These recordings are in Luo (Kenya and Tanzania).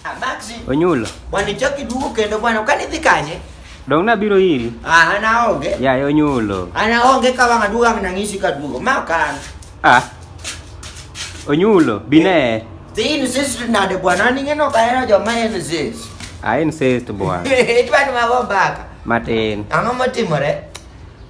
Abaxi. Ah, Onyulo. Bwana ichoki dugu kendo bwana ukanidhi kanye? Dong nabiro iri. Ah, anaonge. Ya, yeah, onyulo. Anaonge ka wanga dugu ang nang'isi ka dugu. Ma kan. Ah. Onyulo, bine. Eh, the insist nade bwana ning'eno ka eno joma insist. Ah, insist bwana. Itwa ni mago mbaka. Matin. Ang'o motimore?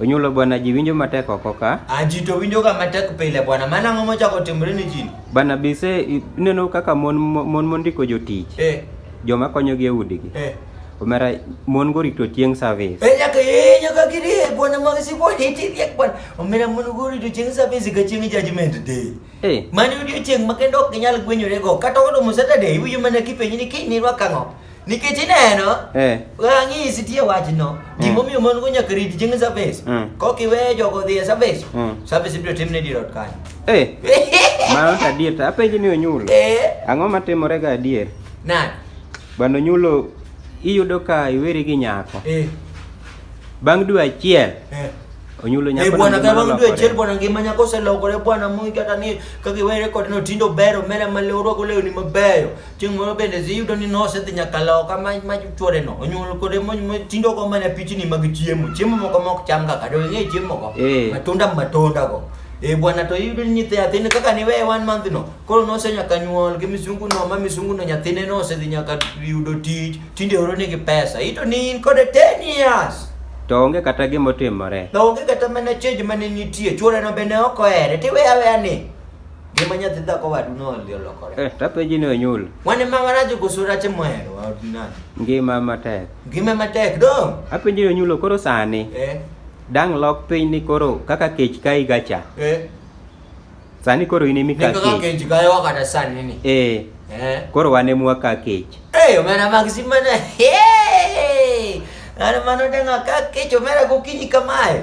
Onyulo bwana, ji winjo matek oko ka. Ah, ji to winjoga matek pile bwana. Mano ang'o mochako timre ni ji? Bana bise ineno kaka mon mon mondiko jotich. Eh. Joma konyogi e udigi. Eh. Omera mon go rito chieng' service. Eh nyaka eh nyaka giri eh, bwana mag sipo hiti riek bwana. Omera mon go rito chieng' service ga chieng' judgment day. Eh. Mani odiechieng' ma kendo ok ginyal gwenyore go. Kata odo Saturday iwinjo mana kipenji ni kiny ni rwakang'o. nikech ineno eh. rang'isi tie wachno mm. gimomiyo mon go nyaka rit chieng' service mm. kok iweyo jogo dhi e service mm. service ibiro timne dirot kanyo eh. mano to adier to apenji ni onyulo eh. ang'o matimore ga adier nani bando nyulo iyudo ka iweri gi nyako eh. bang' dwe achiel eh. onyulo nyako bwana ka bang' dwe achiel bwana ngima nyako oselokore bwana moi kata ni kaka iwere kod no tindo bero mera malewruok olewni mabeyo Chieng' moro bende dhi yudo ni nosedhi nyaka loka ma ma chworeno onyuol kode mo- mo- tindo go mana pichni mag chiemo chiemo moko mok cham kaka to ing'e chiemo go Eh. matunda matunda go e bwana to iyudo ni nyithi nyathine kaka ni weye one month no koro nose nyaka nyuol gi misungu no ma misungu no nyathine nosedhi nyaka yudo tich tinde oro nigi pesa ito ni in kode 10 years To onge kata gima otimore. to onge kata mana change mane nitie chworeno bende ok ohere tiweya weya ni Ngima nyathi dhako wadu noli olokore. Eh, tapenji ni onyul. Wane ma warajo gosura che mwero wa ordinary. Ngima matek. Ngima matek do. Apenji ni onyulo koro sani. Eh. Dang lok piny ni koro kaka kech kai gacha. Eh. Sani koro in emika kech. Kaka kech gayo wakata sani ni. Eh. Eh. Koro wane mwa ka kech. Eh, omena maxima na. Hey! Ana mano denga ka kech omera gokinyi kamae.